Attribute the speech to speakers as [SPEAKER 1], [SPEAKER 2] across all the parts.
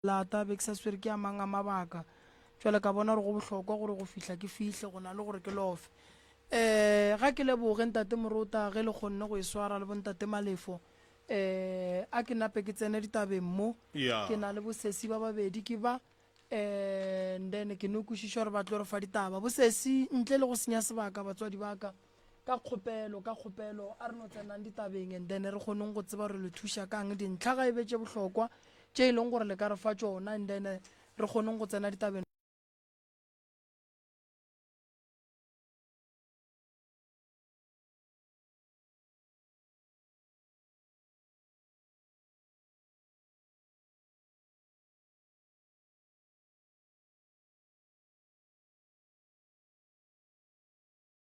[SPEAKER 1] Lata a be ke sa swere ke a mang a mabaka. Bjale ka bona gore go bohlokwa gore go fihla ke fihle go na le gore ke lofe. Um ga ke leboge Ntate Morota ge le kgonne go e swara le Bontate Malefo. Um a ke nape ke tsene ditabeng mo. Ke na le bosesi ba babedi ke ba, um then ke no kwešiša gore ba tlo re fa ditaba. Bosesi, ntle le go senya sebaka, batswadi ba ka, Ka kgopelo, ka kgopelo, a re no tsenang ditabeng and then re kgoneng go tseba gore le thuša ka'ng, dintlha ga e be tše bohlokwa tše e leng gore le ka re fa tšona and then re kgoneng go tsena ditabeng.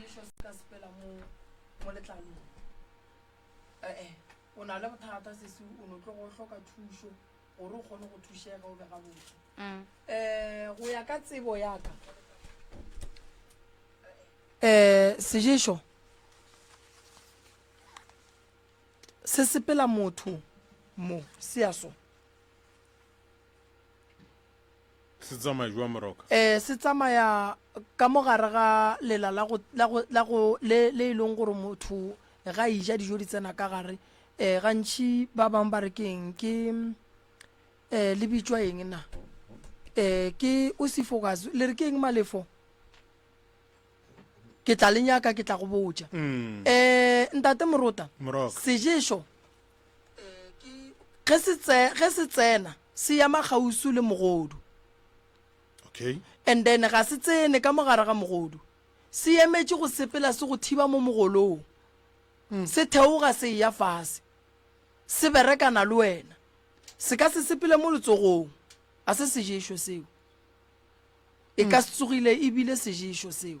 [SPEAKER 1] sešo se ka sepela mo mo letlalong ee o na le bothata sese o no tlo go hloka thušo gore o kgone go thušega o be gabotse um go ya ka tsebo yaka um seješo se sepela motho mo se ya so Se tsamaya jwa moroka? Ee, se tsamaya ka mo gare ga lela la go, la go, la go, le, le e leng gore motho ga e ja dijo di tsena ka gare. Eh, gantši ba bang ba re ke eng, ke eh, le bitšwa eng na? Eh, ke osifogas, le re ke eng malefo? ke tla le nyaka ke tla go botša mm. eh, ntate morota Moroka. seješo ge se tse ge se tsena se ya magausu le mogodu okay and then ga se tsene ka mogare ga mogodu se emetše go sepela se go thiba mo mogolong hmm. se theoga se ya fase se berekana le wena se ka se sepele mo letsogong a se seješo seo e ka hmm. se tsogile ebile seješo seo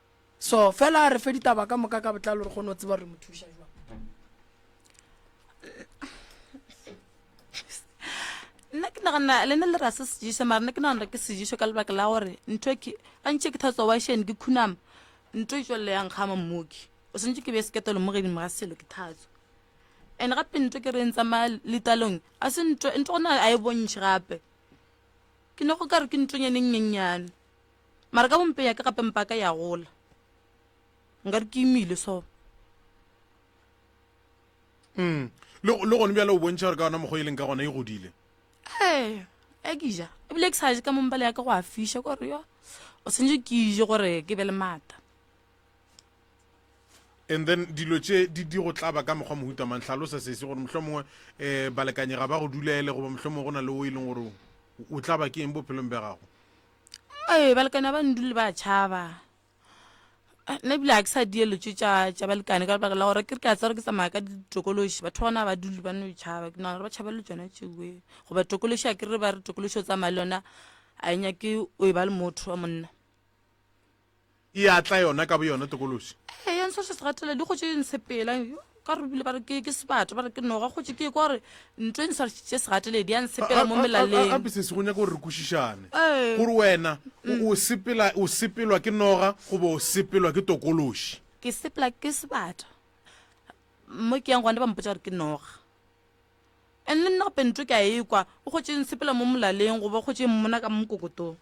[SPEAKER 1] So fela re fe ditaba ka moka ka botlalo re kgone go tseba re mo thuša jwang. nna ke nagana le ne le rase sejeso mara ne ke nagana ke sejeso ka lebaka la gore ntho ke gantšhe ke thatsa washene ke khunama ntho e tswelele yang kgama mmoki o swantse ke beye seketelo mo gedimo ga selo ke thatso and gape ntho ke reng tsamaya letalong a se ntho ntho gona a e bontšhe gape ke ne go ka re ke ntonyane nnyennyane mara ka bompeng ya ka gape mpa ka ya gola nkare ke imile so mm. le gone bjale o bontšha gore ka gona mokgwa e leng ka gona e godile ee e ke ja ebile ke sa je ka mompale ya ka go a fiša kore yo o tshwanetse ke ije gore ke be le maata and then dilo tše di di go tlaba ka mokgwa mohuta mang tlhalosa sese gore mohlho mongwe um eh, balekanyega ba go dulele goba mohlho mongwe go na le o e leng gore o tlaba ke eng bophelong bja gago ee balekane ba ndule ba tšhaba nna ebile ga ke sa dielo tse tša balekane ka lebaka la gore ke re ke a tsere ke tsamaya ka ditokološi batho ba gona ba dule ba no e tšhaba ke nagana gore ba tšhabela le tsona tšeoe goba tokološi a ke re ba re tokološi o tsamaya le yona a e nyake o e ba le motho wa monna e a tla yona ka boyona tokološi ee ya ntsho se segatela di gotše e ntshepela ka re bile ba re ke ke sebata ba re ke noga gotše ke kwa gore ntho e ntsho se segateledi ya ntshepela mo melaleng gape se se go nyaka gore re kwešišane Ee. gore wena o- o sepela o sepelwa ke noga goba o sepelwa ke tokološi ke sepela ke sebata mo ke yang gone ba mpotsa gore ke noga and le nna gape nto ke a ekwa o gotše ntshepela mo molaleng goba o gotše mmona ka mo mokokotong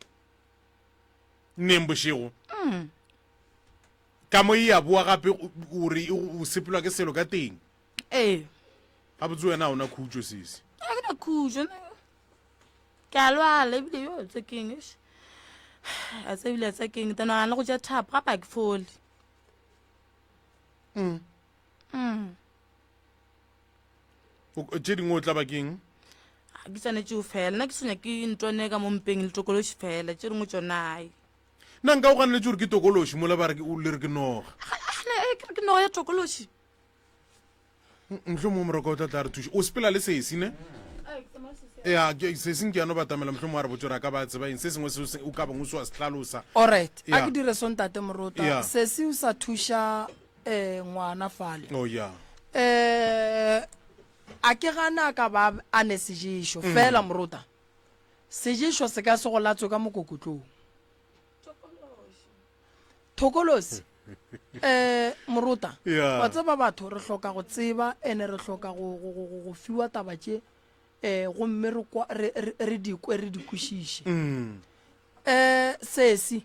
[SPEAKER 1] neng bošego mm. ka mo e ya boa gape gore o sepelwa ke selo ka teng ee ga botse wena ona khutso sese a ke na khutso ke a lwala ebile yo tse keng a tse ebile tse keng tana ga le go ja thapo ga ba ke fole mm mm tše dingwe o tla bakeng ga ke tsanetšeo fela nna ke senya ke ntone ka mo mpeng le tokološi fela tše dingwe tšonae nna nka o ganeletse gore ke tokološi mola ba le re ke noga eh, ke noga ya tokološi mohlho mongwe moroko o tla tla re thuša o sepela le sesi ne ya seseng ke yano batamela mohlho mongwe a re botse gore a ka ba tseba eng se sengwe se o ka bongwe se wa se tlhalosa orit a ke dire sontate moroto sesi o sa thuša eh ngwana fale oh ya eh a ke gana ka ba a ne seješo mm. fela morota seješo se ka se go latswe ka mokokotlong thokolosi eh morota wa tseba batho re hloka go tseba ene re hloka go fiwa taba tše eh gomme re dikwe re dikwešiše um mm. eh sesi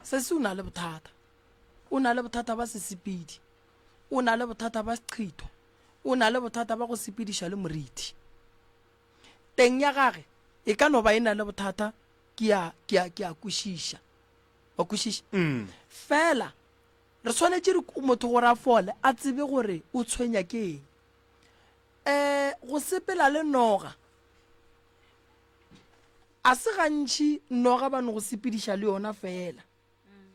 [SPEAKER 1] sesi o na le bothata o na le bothata ba sesepedi o na le bothata ba seqhitho o na le bothata ba go sepediša le morithi teng ya gage e ka no ba e na le bothata ke a ke a ke a kwešiša wa kwešiša mm. fela re tshwanetse re motho gore a fole a tsebe gore o tshwenya ke eng um go sepela le noga A se gantši noga ba no go sepediša le yona feela.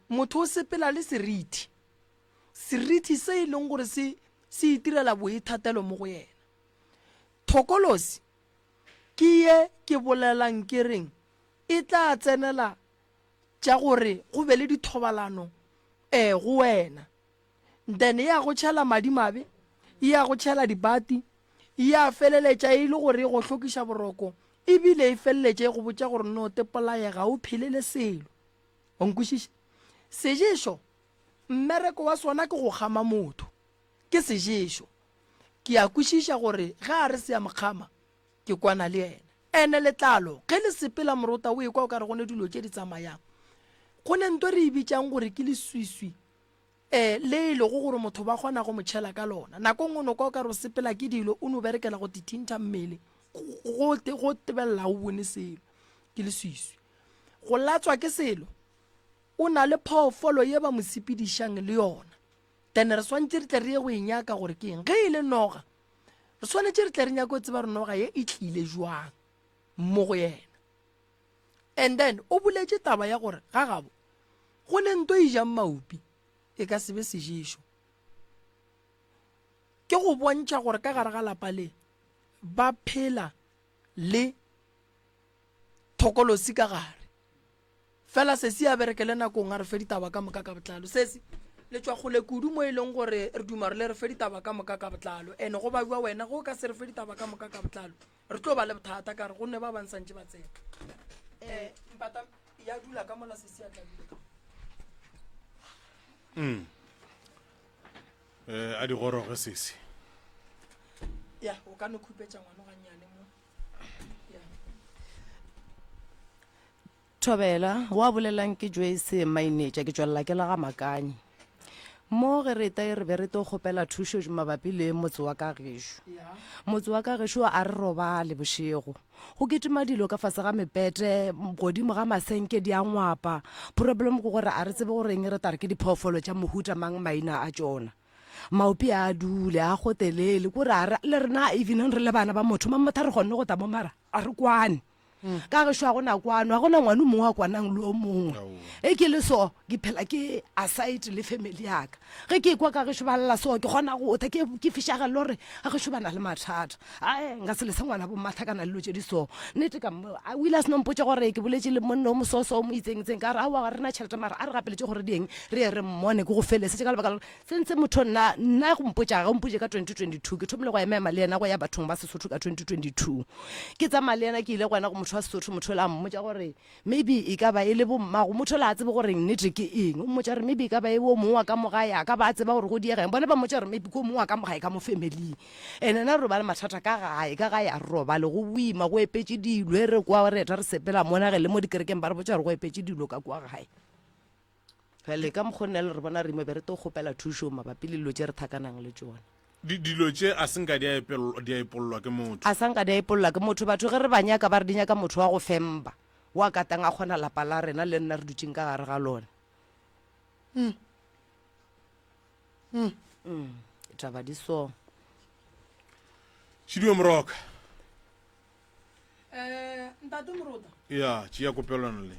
[SPEAKER 1] Motho o sepela le serithi, serithi se e leng gore se se itirela boithatelo mo go yena. Thokolosi ke ye ke bolelang ke reng e tla tsenela tša gore go be le dithobalano um go wena. then e ya go tšhela madimabe e ya go tšhela dibati e ya feleletša e le gore e go hlokiša boroko ebile e feleletša e go botša gore no te polaye ga o phele le selo o nkwešiša seješo mmereko wa sona ke go kgama motho ke seješo ke a kwešiša gore ge a re se ya mokgama ke kwana le yena ene letlalo ge le sepela morota o ekwa o ka re gone dilo tše di tsamayang go ne nto re e bitšang gore ke leswiswi le e lego gore motho ba kgona go mo tšhela ka lona. Nako nngwe no kwa o ka re o sepela ke dilo, o no berekela go tithintha mmele, go go tebelela ga o bone selo, ke leswiswi. Go latswa ke selo, o na le phoofolo ye ba mo sepedišang le yona, then re swantše re tle re ye go e nyaka gore ke eng. Ge e le noga, re swanetše re tle re nyake go tseba gore noga ye e tlile jwang mo go yena. and then o boletše taba ya gore ga gabo go le nto e jang maupi e ka sebe seješo ke go bontšha gore ka gare ga lapa le ba phela le thokolosi ka gare fela se se a bereke le nakong a re fe ditaba ka moka ka botlalo se se le tswa gole kudu mo e leng gore re duma re le re fe ditaba ka moka ka botlalo ene go ba jwa wena go ka se re fe ditaba ka moka ka botlalo re tlo ba le bothata ka re gonne ba bang santse ba tsena eh, mpata ya dula ka mola sesiatla mm. eh, a di goroge sese ya o ka no khupetsa ngwano gannyane mo ya Thobela, Wa bolela'ng ke Joyce Mainetša, ke tšwelela ke le ga Makanyi. Mo ge re eta e re be re tlo kgopela thušo mabapi le motse wa ka gešo. Motse wa ka gešo a re robale bošego. Go kitima dilo ka fase ga mepete, godimo ga masenke di a ngwapa. Problem ke gore a re tsebe gore eng re tare ke diphoofolo tša mohuta mang maina a tšona. Maopi a dule, a gotelele, kore a re le rena even re le bana ba motho mang motho a re kgonne go tla mo mara a re kwane. ka ge šwa gona kwano ga gona ngwane mongwe a kwanang le o mongwe e ke le so ke phela ke aside le family yaka ge ke kwa ka gešo ba lela so ke kgona go tha ke fišagele gore ga gešo ba na le mathata ae nka se lese ngwana bommatha ka na le lo tse di so nnete ka o ile a seno mpotse gore ke boletse le monno o mososo o mo itseng itseng ka re aowa ga rena tšhelete mara a re gapeletse gore dieng re ye re mmone ke go felesetse ka lebaka lore Sentse motho nna nna go mpotša ga o mpotše ka 2022 ke thomile go ema ema le yena go ya bathong ba Sesotho ka 2022 ke tsamaya le yena ke ile gona go motho wa Sesotho motho la mmotša gore maybe e ka ba e le bommago motho la tsebe gore nnete ke eng o mmotša gore maybe e ka ba e wo mongwe wa ka mogae a ka ba tseba gore go diega eng bone ba mmotša gore maybe ko mongwe wa ka mogae ka mo family and ena re ba le mathata ka gae ka gae a re robale go boima go epetse dilo e re kwa re eta re sepela mona ge le mo dikerekeng ba re botša gore go epetse dilo ka kwa gae Bjale ka mokgwa o nna le re bona rimo, be re to kgopela thušo mabapi le dilo tše re thakanang le tšona. Di, dilo tše a se nka di a epelwa, di a epollwa ke motho. A sa nka di a epollwa ke motho. Batho ge re ba nyaka, ba re di nyaka motho wa go femba, wo a katang a kgona lapa la rena le nna re dutšeng ka gare ga lona. Mm. Mm. Mm. Ditaba di so. Chidiwe Moroka, um ntate morota ya tšea kopelwana le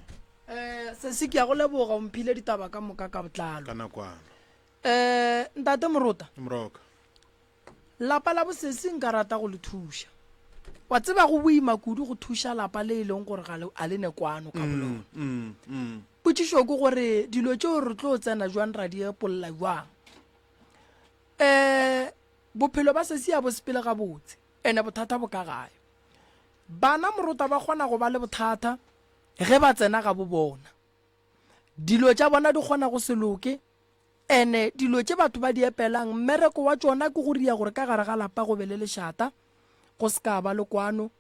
[SPEAKER 1] um sesi ke ya go leboga o mphile ditaba ka moka ka botlalo ka nakwana um ntate morota moroka lapa la bosesi nka rata go le thuša wa tseba go boima kudu go thuša lapa le e leng gore ga le- a le ne kwano ka bolona mm, mm. potšišo ke gore dilo tšeo re tlo tsena jwang ra di epolola jwang um bophelo ba sesi ya bo sepele gabotse Ene bothata bo ka gae. Bana morota ba kgona go ba le bothata ge ba tsena ga bo bona. Dilo tša bona di kgona go se loke, ene dilo tše batho ba di epelang mmereko wa tšona ke go ria gore ka gare ga lapa go be le lešata, go se ka ba le kwano,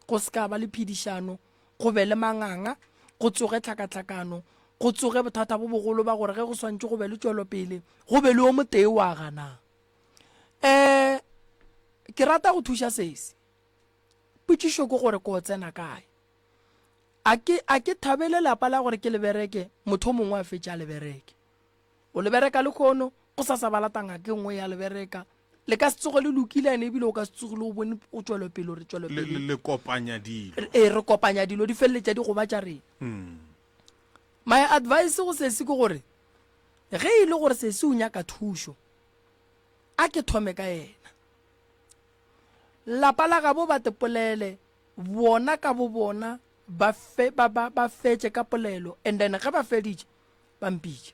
[SPEAKER 1] go se ka ba le phedišano, go be le manganga, go tsoge tlhakatlhakano, go tsoge bothata bo bogolo ba gore ge go swantše go be le tšwelopele go be le yo motee wa ganang. um ke rata go thuša sesi potšišo ke gore ko tsena kae a ke a ke thabele lapa la gore ke lebereke motho o mongwe a fetše a lebereke o lebereka le kgono go sa sa ba latanga ke nngwe ya lebereka le ka se tsoge le lokile ene ebile o ka se tsogile o bone o tswelopele re tswelopele le kopanya dilo ee re kopanya dilo di feleletša di goba tša rena hmm. my advice go sesi ke gore ge e le gore sesi o nyaka thušo a ke thome ka yena lapa la gabo ba te polele bona ka bo bona ba fe ba ba ba fetše ka polelo and then ge ba feditše ba mpitše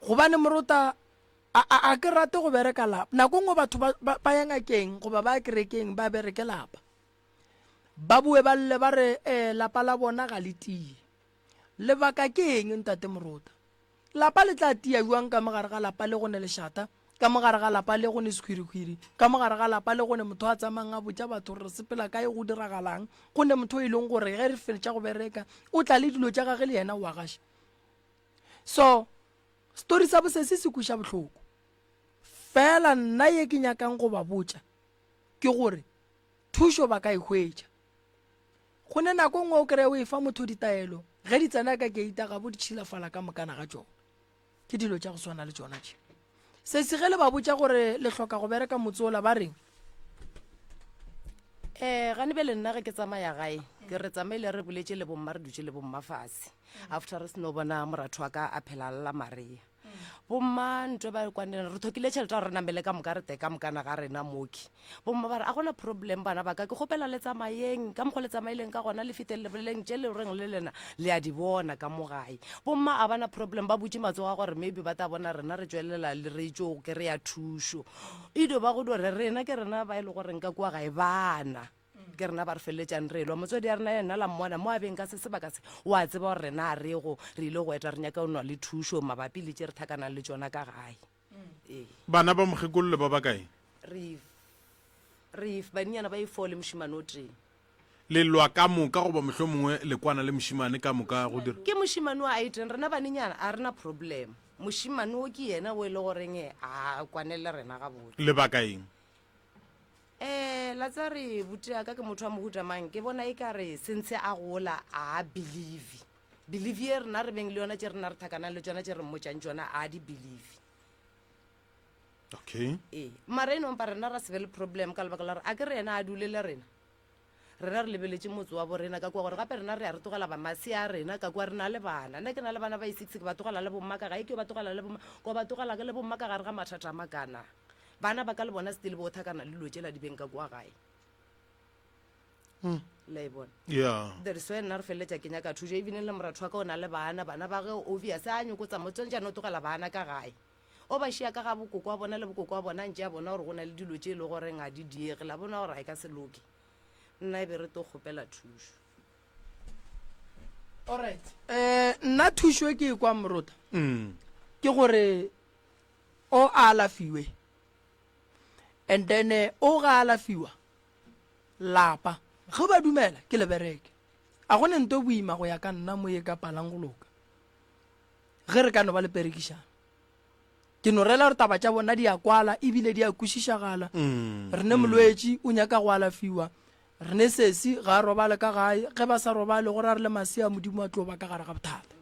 [SPEAKER 1] gobane morota a a a ke rate go bereka lapa nako ngwe batho ba ba- ba ya ngakeng goba ba ya kerekeng ba bereke lapa ba bue ba lle ba re um lapa la bona ga le tie Lebaka ke eng, Ntate Morota? Lapa le tla tia bjang ka mo gare ga lapa le go ne lešata, ka mo gare ga lapa le go ne sekhwirikhwiri, ka mo gare ga lapa le go ne motho a tsamayang a botša batho gore re sepela kae, go diragalang, go ne motho e leng gore ge re feltša go bereka o tla le dilo tša gage le yena o a gaša? So, story sa bosesi se kweša bohloko. Fela nna ye ke nyakang go ba botša ke gore thušo ba ka e hwetša. go ne nako nngwe o kry-e o e fa motho ditaelo ge di tsena ka keita ga bo di tšhilafala ka mokana ga tsona ke dilo tša go swana le tsona tše se se ge le ba botša gore le hloka go bereka motse ola ba reng um gane be le nna ge ke tsamaya gae ke re tsamaile re boletše le bomma re dutše le bomma fase after re seno bona moratho wa ka a phela lla maria bomma ntwe ba kwanela re thokile tšhelete ya gore re namele ka moka re te ka mokana ga rena moki bomma ba re a gona problem bana ba ka ke kgopela le tsamayeng ka mokgwa le tsamaileng ka gona le fiteng leboleleng tše le reng le lena le a di bona ka mo gae bomma a bana problem ba butše matsogo a gore maybe ba tla bona rena re tšwelela le re tšo kry-a thušo e dio ba go di gore rena ke rena ba e le goreng ka kua gae bana ke rena ba re feleletšang re elwa motswadi ya rena ya nna la mmona mo a beng ka se sebaka se o a tseba gore rena a rego re ile go eta re nyaka o nwa le thušo mabapi le tše re thakanang le tšona ka gae ee Bana ba mokgekolole ba bakae? Reef. Reef, baninyana ba e-four le mošimane o tee. Le lwa ka moka goba mohlomongwe le kwana le mošimane ka moka go dira? Ke mošimane o a eteng, rena baninyana a rena problem. Mošimane o ke yena o e le goreng a kwane le rena gabotse. Lebaka eng? Ee, la tsa re butea ka ke motho wa mohuta mang ke bona e ka re sentse a gola a believe believe ye rena re beng le yona tše rena re thakanang le tsona tše re mmotšang tsona a di believe okay ee mara e nompa rena ra se be le problem ka lebaka la gore a ke re yena a dule le rena Rena re lebeletše motse wa borena, ka kua gore gape rena re a re tlogela bamasi a rena, ka kua re na le bana. Nna ke na le bana ba i-six, ke ba tlogela le bomma ka gae, ke yo ba tlogela le bomma, ka ba tlogela le bomma ka gare ga mathata a makana. Bana ba ka le bona still bo othakana le dilo tšela di beng ka kua gae. La e bona? Yeah. That is why nna re feleletša ke nyaka thušo, even le moratho wa ka o na le bana, bana ba ge obvious a nyoko tsa mo tsone jaanong o tlogela bana ka gae. O ba šia ka ga bokoko wa bona le bokoko wa bona a ntše a bona gore go na le dilo tše e le goreng ga di diege. La bona gore ga e ka se loke. Nna e be re tlo kgopela thušo. Alright. Um nna thušo e ke e kwa morota mm. ke gore o a alafiwe and then eh, o ga alafiwa lapa ge ba dumela ke lebereke a gone nto boima go ya ka nna mo ye ka palang go loka Ge re ka no ba le perekišano, ke no rela gore taba tša bona di a kwala ebile di a kwešišagala. Re ne molwetši o nyaka go alafiwa, re ne sesi ga a robale ka gae, ge ba sa robale gore a re le masea Modimo a tlo ba ka gare ga bothata.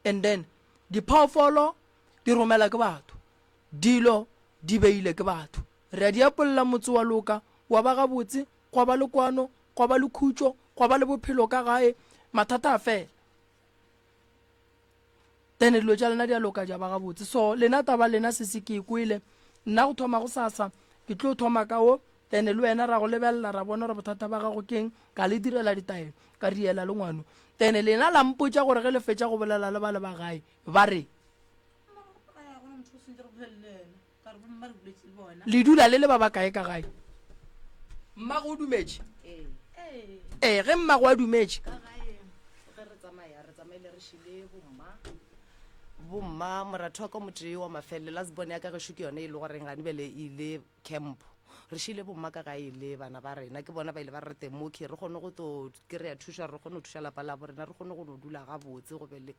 [SPEAKER 1] And then diphoofolo di romela ke batho, dilo di beile ke batho, re a di apolla, motse wa loka, wa ba gabotse, gwa ba le kwano, gwa ba le khutšo, gwa ba le bophelo ka gae, mathata a fela. then dilo tša lena di a loka ja ba gabotse so lena taba lena se se ke e kwele nna go thoma go sasa ke tlo thoma ka wo then le wena ra go lebelela ra bona gore bothata ba gago keng ka le direla ditaelo ka riela le ngwano then lena la mpotsa gore ge le fetsa go bolela le ba le ba gae ba re le dula le le ba bakae ka gae mmago o dumetše ee ge mmago a dumetše bomma moratho wa ka motee wa mafelele la sebone ya ka gešo ke yone e le goreng gane bele e ile campo re šile bomma ka gae le bana ba rena ke bona ba ile ba re teng mo re kgone go to kry-a thuša re kgone go thuša lapa labo rena re kgone go no dula gabotse go be le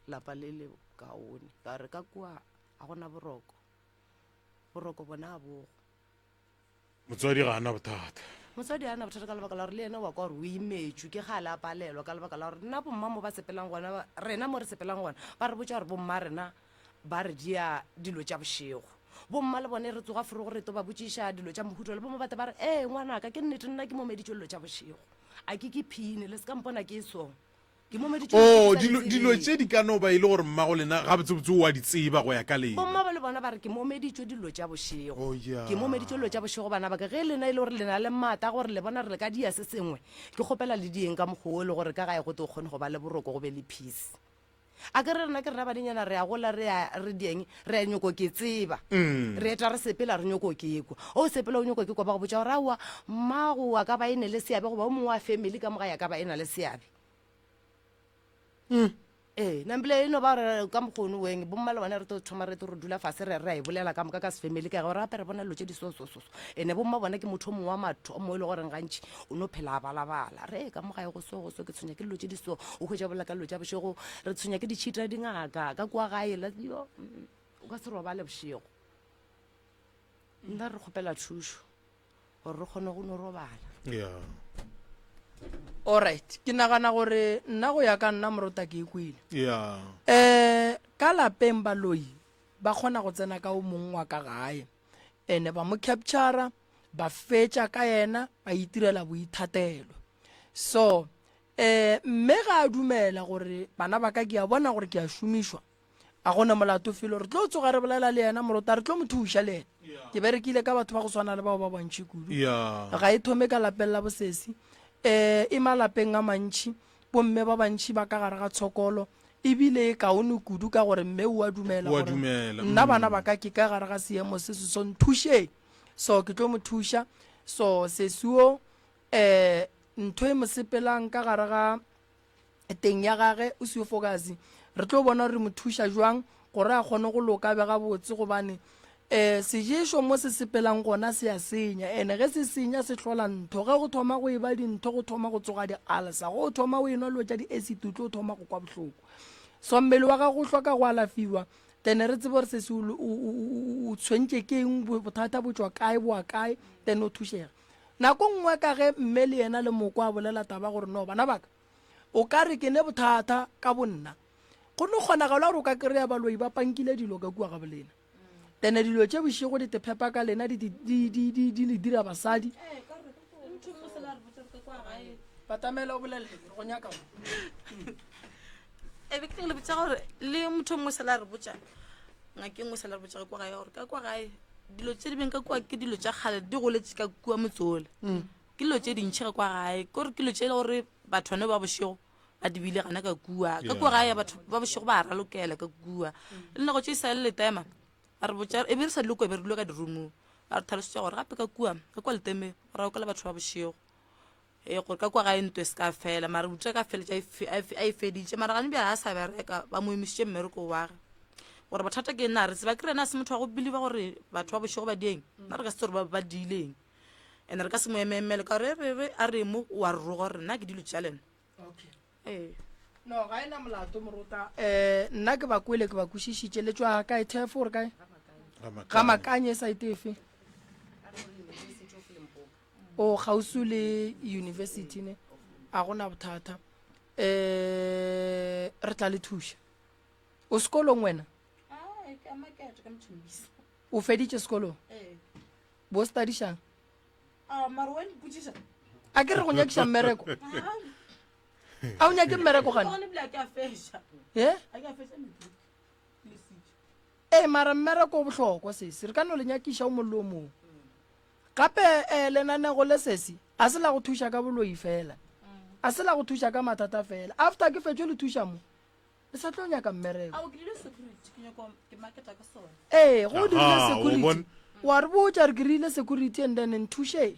[SPEAKER 1] lapa le le kaone ka re ka kua Ga go na boroko. Boroko bona a bogo. Motswadi ga a na bothata. Motswadi a na bothata ka lebaka la gore le ena wa kwa gore o imetšwe ke ga a le a palelwa ka lebaka la gore nna bomma mo ba sepelang gona ba- rena mo re sepelang gona ba re botša gore bomma rena ba re dia dilo tša bošego bomma le bone re tsoga forogo re to ba botšiša dilo tša mohuto le bomma bate ba re ee ngwanaka ke nnete nna ke momeditšwe dilo tša bošego a ke ke phine le se ka mpona ke e song Oo, dilo, dilo tše di ka no ba e le gore mmago lena gabotsebotse o a di tseba go ya ka lena. Bommabo le bona ba re ke momeditšwe dilo tša bošego. Oh, yeah. Ke momeditšwe dilo tša bošego, bana ba ka. Ge lena e le gore le na le maata gore le bona re le ka dia se sengwe, ke kgopela le dieng ka mokgwa wo e le gore ka gae go tlo kgone go ba le boroko go be le peace. A ke re rena ke rena banenyana re a gola re a re dieng re a nyoko ke tseba mm. re eta re sepela re nyoko ke kwa o sepela o nyoko ke kwa ba go botša gore aowa mmago wa ka ba e ne le seabe goba o mongwe wa family ka moga ya ka ba e na le seabe mm. ee nambile e no ba re ka mokgono weng bomma le bone re tlo thoma re tlo re dula fase re re a e bolela ka moka ka sefamily ka gore gape re bona dilo tse di sosososo ene bomma bona ke motho o mongwe wa matho o mongwe e le goreng gantši o no phela a balabala re e ka mo gae go so go so ke tshwenya ke dilo tse di so o hwetsa bolela ka dilo tsa bošego re tshwenya ke ditšhita dingaka ka kua gae la yo mm, o ka se robale bošego nna re kgopela thušo gore re kgone go no robala yeah. alright ke nagana gore nna go ya ka nna morota ke e kwele yeah. um ka lapeng baloi ba kgona go tsena ka o mongwe wa ka gae ene ba mo captura ba fetša ka yena ba itirela boithatelo so um mme ga a dumela gore bana ba ka ke a bona gore ke a šomišwa a gona molato felo re tlo tsoga re bolela le yena morota re tlo mo thuša le yena ke berekile ka batho ba go swana le bao ba bantšhi kudu ga e thome ka lapelela bosesi um eh, e malapeng a mantšhi bomme ba bantšhi ba ka gare ga tshokolo ebile e kaone kudu ka gore mme o a dumela gore nna bana mm. ba ka ke ka gare ga seemo se se so nthušeng so ke tlo mo thuša so sesuo um eh, ntho e mo sepelang ka gare ga teng ya gage o seo fokase re tlo bona gore mo thuša jwang gore a kgone go loka be gabotse gobane um eh, seješo mo se sepelang gona se a senya ene ge se senya se tlhola ntho ge go thoma go e ba dintho go thoma go tsoga di-alsa go thoma o enwa lo tša di-acid o tlo thoma go kwa bohloko so mmele wa gago o hloka go alafiwa then re tsebe gore se se o tshwentše ke eng bothata bo tswa kae boa kae then o thušega Nako nngwe ka ge mme le yena le moko a bolela taba gore no bana baka o ka re ke ne bothata ka bonna go no kgonagalo gore o ka kry-a baloi ba pankile dilo ka kua ga bolena ene dilo tše bošego di tephepa ka lena di le dira basadi batamela o bolele go nyaka e be ke le botsa gore le motho mongwe se la re botsa ngake nngwe sa le re botsa ka kwa gae gore ka kwa gae dilo tse di beng ka kwa ke dilo tsa kgale di goletse ka kua motsole mm. ke dilo tse dintšhi ka kwa gae kore ke dilo tse e le gore batho bane ba bošego ba dibile gana ka kua ka kua gae batho ba bošego ba ralokela ka kua le nako tse e sa le letema a re botsa e be re sa dilo kua be re dilo ka dirumong a re tlhalosetswa gore gape ka kua ka kwa leteme go raokela batho ba bošego Ee, gore ka kwa gae ntwe se ka fela, mara utswa ka feletša a e feditše. Mara gane bjale a sa bereka, ba mo emisitše mmereko wage. Gore bothata ke nna, re tseba ke rena a se motho wa go beliva gore batho ba bošego ba dieng, nna re ka se tse gore ba diileng and re ka se mo ememele ka gore re re a re mo wa re roga gore nna ke dilo tša lena Ee. No, ga e na molato, morota. Um, nna ke ba kwele, ke ba kwešišitše. Le tšwa kae, Thefo, gore kae? Ga makanye e saete efe? O oh, gausu le university ne, a gona bothata. Eh, re tla le thuša. O sekolong wena? Ah, o feditše sekolong? Ee. Bo studišang? Ah, mara wa mpotšiša a ke re go nyakiša mmereko a o nyake mmereko gane gone bile a ke a feša e a ke a feša meduka le sitša ee mara mmereko o bohlokwa sese re ka no le nyakiša o mollo o mong gape um lenanego le sese a se la go thuša ka boloi fela a se la go thuša ka mathata fela after ke fetšo le thuša mo le sa tlo nyaka mmereko ee go dirile security wa re botša re kerile security and then nthuše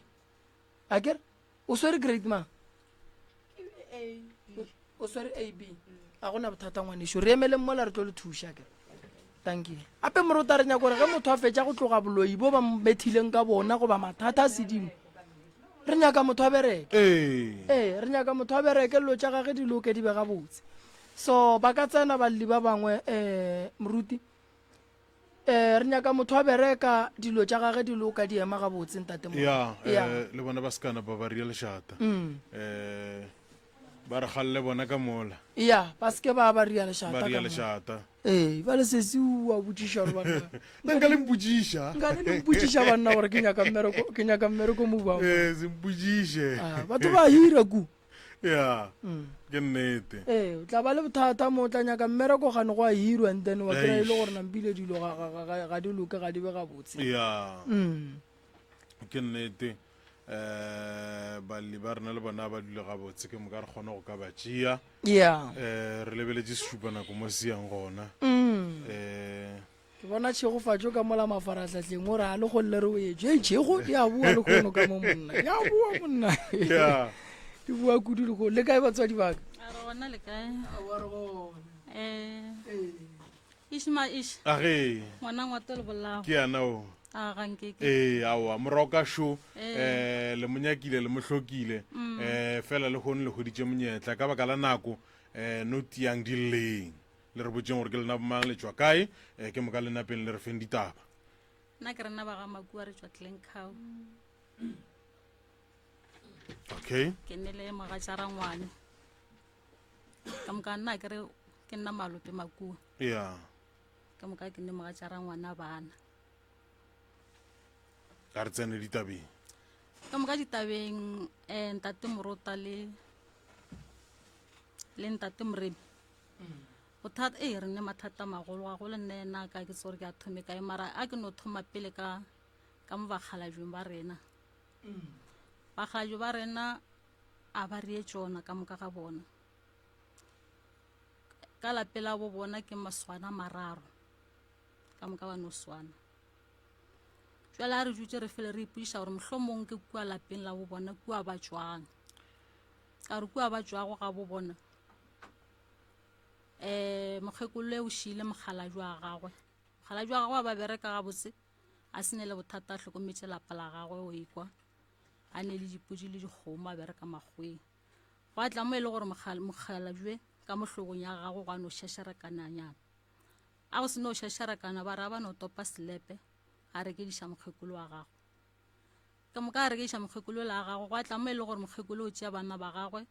[SPEAKER 1] a kere o swere grade mang o swere ab a gona bothata ngwaneso re emeleng mola re tlo le thuša kere Tankile. Gape morota re nyaka gore ge motho a fetša go tloga boloi bo ba methileng ka bona goba mathata a sedimo, re nyaka motho a bereke. Ee. Ee, re nyaka motho a bereke lelo tša gage di loke di be gabotse. So ba ka tsena balli ba bangwe um moruti. Um re nyaka motho a bereka dilo tša gage di loka di ema gabotse ntate mo. Ya, ya. Eh, le bona ba sekana ba ba ria lešata. Mm. Eh, ba re galle bona ka mola. Ya, ba seke ba ba ria lešata. Ba ria lešata. Ee, ba le sesi wa botšiša gore banna. Na nka le mpotšiša? Nka le mpotšiša banna gore ke nyaka mmereko, ke nyaka mmereko mo ba. Eh, se mpotšiše. Ah, batho ba hira ku. Yeah. Mm. Ke nnete. Eh, o tla ba le bothata mo o tla nyaka mmereko gane go a hirwa and then wa kry le gore nampile dilo ga di loke ga di be ga botse. Yeah. Mm. Ke nnete. um balli ba rena le bona ba dule gabotse ke moka re kgone go ka ba tšea um re lebeletše sešupa nako mo se yang gona um ke bona tšhegofatšo ka mola mafaratlhatlheng o re a le golele re o etso e tšhego ya bua le kgono ka mo monna ya bua monna e bua kudu le kgono le kae batswadi baka um Ish ma ish. A ge. Ngwana ngwa tolo bolao. Ke yana o. A ga nke ke. Eh awa mora ka sho eh. eh le monyakile le mohlokile mm. eh fela le hone le hoditše monyetla ka baka la nako eh no tiang di leng le re botseng gore ke lena bomang le tswa kae eh ke moka le napeng le re feng ditaba nna ke rena ba ga makua re tswa tleng cow okay ke ne le mogatša rangwane ka moka nna ke re ke nna malope makua ya ka moka ke nne moga tša rangwana bana a re tsene ditabeng ka moka ditabeng um ntate morota le le ntate moremi bothata e re nne mathata a magolo ga gole nna ena ka ke tsore ke a thome kae mara a ke no thoma pele ka ka mo bakgalajong ba rena Bagajo ba rena a ba reye tšona ka moka ga bona. Ka lapela bo bona ke maswana mararo ka moka ba no swana. Jwale a re jutse re fele re ipuša gore mohlomong ke kua lapeng la bo bona kua ba tšwang. Ka re kua ba tšwago ga bo bona um mokgekolo e o šiile mokgalajwa gagwe. Mokgalajwa gagwe a ba bereka gabotse. A se ne le bothata a hlokometše lapa la gagwe o ikwa a ne le dipodi le dikgomo a bereka makgweng gwa tla mo e le gore mokgalabje ka mohlogong ya gagwe gwa no šašarakananyana a go se no šašarakana ba ra ba no topa selepe a rekediša mokgekolo wa gagwe ka moka a rekediša mokgekolo la gagwe gwa tla mo e le gore mokgekolo o tšea banna ba gagwe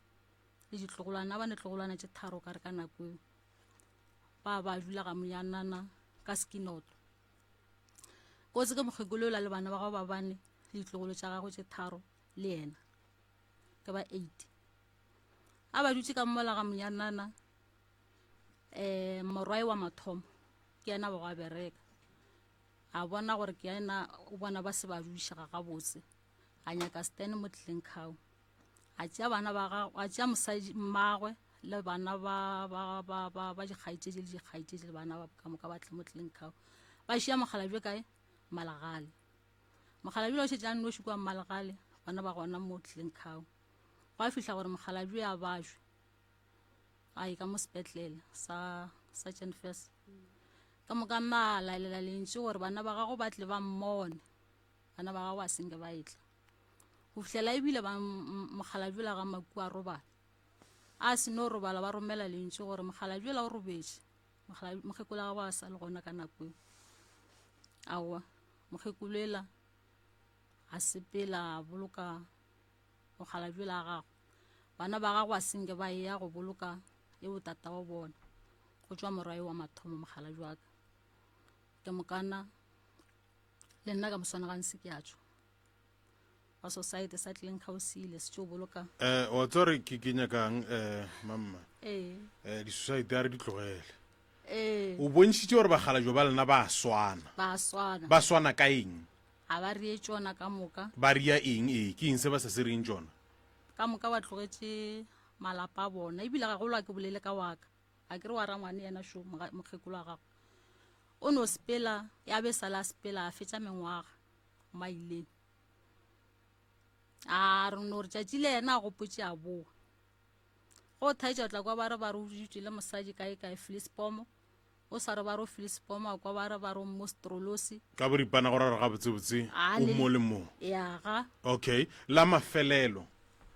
[SPEAKER 1] le ditlogolwana ba ne tlogolwana tše tharo ka re ka nako eo ba ba dula ga monyanana ka sekinoto o tseke mokgekolo ola le bana ba gago ba bane le ditlogolo tša gago tše tharo le yena ke ba eight a ba dutse ka mmola ga monyanana um morwae wa mathomo ke yena ba go a bereka a bona gore ke yena o bona ba se ba dudišega gabotse a nyaka stan mo tleleng kgao a tšea bana ba gago a tšea mosadi mmagwe le bana ba ba ba ba ba dikgaitšedi le dikgaitšedi le bana ba ka moka ba tle mo tleng kao ba šia mokgalabje kae malagale mokgalabje o šetse a noši kwa malagale bana ba gona mo tleng kao gwa fihla gore mokgalabje a bajwe a e ka mo sepetlele sa sa chenfes ka moka nna a laelela lentši gore bana ba gago ba tle ba mmone bana ba gago ba senge ba etla go fihlela ebile ba mokgalajula ga maku a robala a se no robala ba romela lentši gore mokgalajula o robetše mokgekolo ga ba a sa le gona ka nako e aowa mokgekolo ela a sepela a boloka mokgalajula a gago bana ba gago a senke ba e ya go boloka e botata wa bona go tšwa morae wa mathomo mokgalajwaka ke mokana le nna ka moswana gantsi ke a tšwa wa society sa tlileng ga o seile se tšo boloka eh wa tsore ke ke nyakang eh mamma ee eh di society a re di tlogele ee o bontšhitse gore bagala jo ba lena ba swana ba swana ba swana ka eng ga ba rie tsona ka moka ba ria eng ee ke eng se ba sa se reng tsona ka moka ba tlogetše malapa a bona ebile ga golwa ke bolele ka waka a ke re wa rangwane yena šo mokgekolo wa gago o no sepela ya be sala a sepela a fetša mengwaga maileng a re no re tšatši le yena a gopotše a boa go thaetša o tla kwa ba re ba re o dutšwe le mosadi kae kae filisepomo o sa re ba re o filisepomo a kwa ba re ba re o mostrolosi ka boripana go rara gabotsebotse o mo le mo ya ga okay la mafelelo